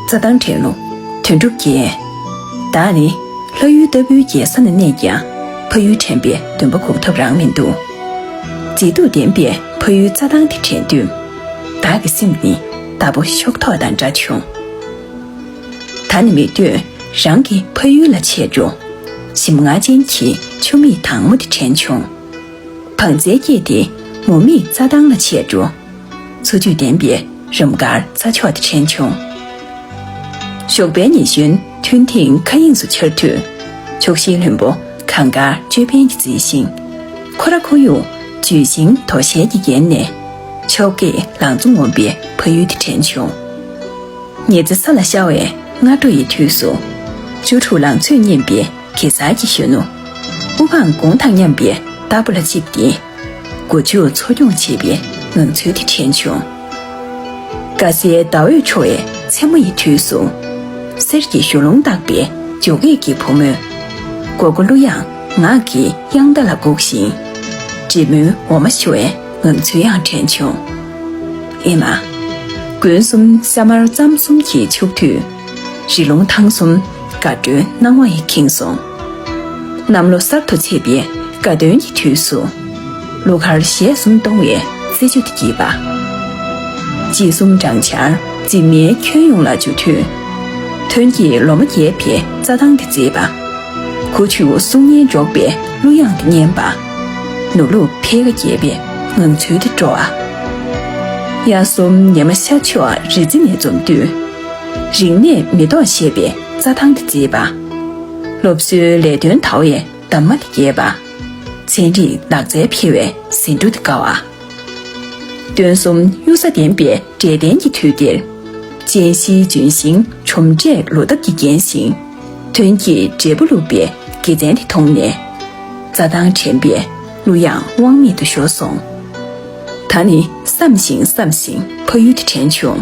རྩྭ་ཐང་དྲན་ནོ། དོན་གྲུབ་རྒྱལ། བདག་ནི། ལྷ་ཡུལ་ལྟ་བུའི་རྒྱལ་ས་ན་གནས་ཀྱང། ཕ་ཡུལ་དྲན་པའི་འདུན་པ་འགུགས་ཐབས་རང་མི་འདུག། མཛེས་སྡུག་ལྡན་པའི་ཕ་ཡུལ་རྩྭ་ཐང་དེ་དྲན་དུས། བདག་གི་སེམས་ནི་དྭ་སྤུ་གཤོག་ཐོག་དང་འདྲ་བྱུང། ད་ནི་མི་འདོད་རང་གི་ཕ་ཡུལ་ལ་ཆས་འགྲོ། ཞིམ་མངར་ཅན་གྱི་ཆུ་མིག་དྭངས་མོ་དེ་དྲན་བྱུང། བང་རྩལ་སྐྱེས་ཏེ་མུ་མེད་རྩྭ་ཐང་ལ་ཆས་འགྲོ། འཚོ་བཅུད་ལྡན་པའི་རུམ་དཀར་ས་ཕྱོགས་དེ་དྲན་བྱུང། ཞོགས་པའི་ཉི་གཞོན་ཐུན་ཐིག་མཁའ་དབྱིངས་སུ་འཆར་དུས། ཕྱོགས་བཞིའི་ལྷུན་པོ་གངས་དཀར་ཅོད་པན་གྱིས་བརྫིས་ཤིང། ཁོ་ར་ཁོར་ཡུག་ལྗོན་ཤིང་དོ་ཤལ་གྱིས་བརྒྱན་ནས། ཕྱོགས་ཀྱི་ལང་ཚོ་ངོམ་པའི་ཕ་ཡུལ་དེ་དྲན་བྱུང། ཉི་རྩེ་ས་ལ་ཤར་བའི་སྔ་དྲོ་ཡི་དུས་སུ། བཅུ་དྲུག་ལང་ཚོས་སྙེམས་པའི་གེ་སར་གྱི་གཞོན་ནུ། དབུ་འཕང་དགུང་དང་མཉམ་པའི་རྟ་ཕོ་ལ་བཅིབས་ཏེ། སྒོ་ཕྱུགས་འཚོ་སྐྱོང་བྱེད་པའི་ངང་ཚུལ་དེ་དྲན་བྱུང། དགའ་སའི་ཟླ་འོད་འཕྲོ་བའི་མཚན་མོ་ཡི་དུས་སུ། གསེར་གྱི་གཞུ་ལུང་བཏགས་པའི་འཇོ་སྒེག་གི་བུ་མོས། མགོ་སྒོ་གླུ་དབྱངས་ངག་གི་དབྱངས་རྟ་ལ་བསྒུགས་ཤིང། འབྲི་མོའི་འོ་མ་བཞོ་བའི་ངང་ཚུལ་ཡང་དྲན་བྱུང། ཨེ་མ། དགུན་གསུམ་ས་དམར་རྩམ་གསུམ་གྱིས་ཕྱུག་དུས། རི་ལུང་ཐང་གསུམ་དགའ་སྤྲོའི་སྣང་བ་ཡིས་ཁེངས་སོང། གནམ་ལོ་གསར་དུ་ཆས་པའི་དགའ་སྟོན་གྱི་དུས་སུ། གླུ་གར་ཞལ་གསུམ་གཏོང་བའི་རྩེད་འཇོ་དེ་གྱིས་པ། དཔྱིད་གསུམ་སྦྲང་ཆར་འཛིན་མའི་ཁྱོན་ཡོངས་ལ་འཇོ་དུས། ཐོན་སྐྱེད་ལོ་མ་རྒྱས་པའི་རྩྭ་ཐང་དེ་མཛེས་པ། ཁུ་བྱུག་གསུང་སྙན་སྒྲོག་པའི་གླུ་དབྱངས་དེ་སྙན་པ། ནུབ་ལུག་འཕེལ་ཁ་རྒྱས་པའི་ངང་ཚུལ་དེ་སྤྲོ་བ། དབྱར་གསུམ་ཉི་མ་ཤར་ཕྱོགས་རི་རྩེ་ནས་འཛུམ་དུས། རིག་གནས་མེ་ཏོག་བཞད་པའི་རྩྭ་ཐང་དེ་མཛེས་པ། སློབ་གསོའི་ལས་དོན་དར་བའི་འདབ་མ་དེ་རྒྱས་པ། ཚན་རིག་ལག་རྩལ་འཕེལ་བའི་ཟིན་ཐོ་དེ་དཀར་བ། སྟོན་གསུམ་གཡུ་ས་ལྡན་པའི་འབྲས་ལྡན་གྱི་དུས་འདིར། ཅན་བཞིའི་ལྗོན་ཤིང་གྲུམ་འདྲས་ལོ་འདབ་ཀྱིས་བརྒྱན་ཞིང། དོན་གྱི་འབྲས་བུ་བླུགས་པའི་དགེ་མཚན་དེ་མཐོང་ནས། རྩྭ་ཐང་དྲན་པའི་གླུ་དབྱངས་དབང་མེད་དུ་ཤོར་སོང། ད་ནི་བསམ་ཞིང་བསམ་ཞིང་ཕ་ཡུལ་དེ་དྲན་བྱུང།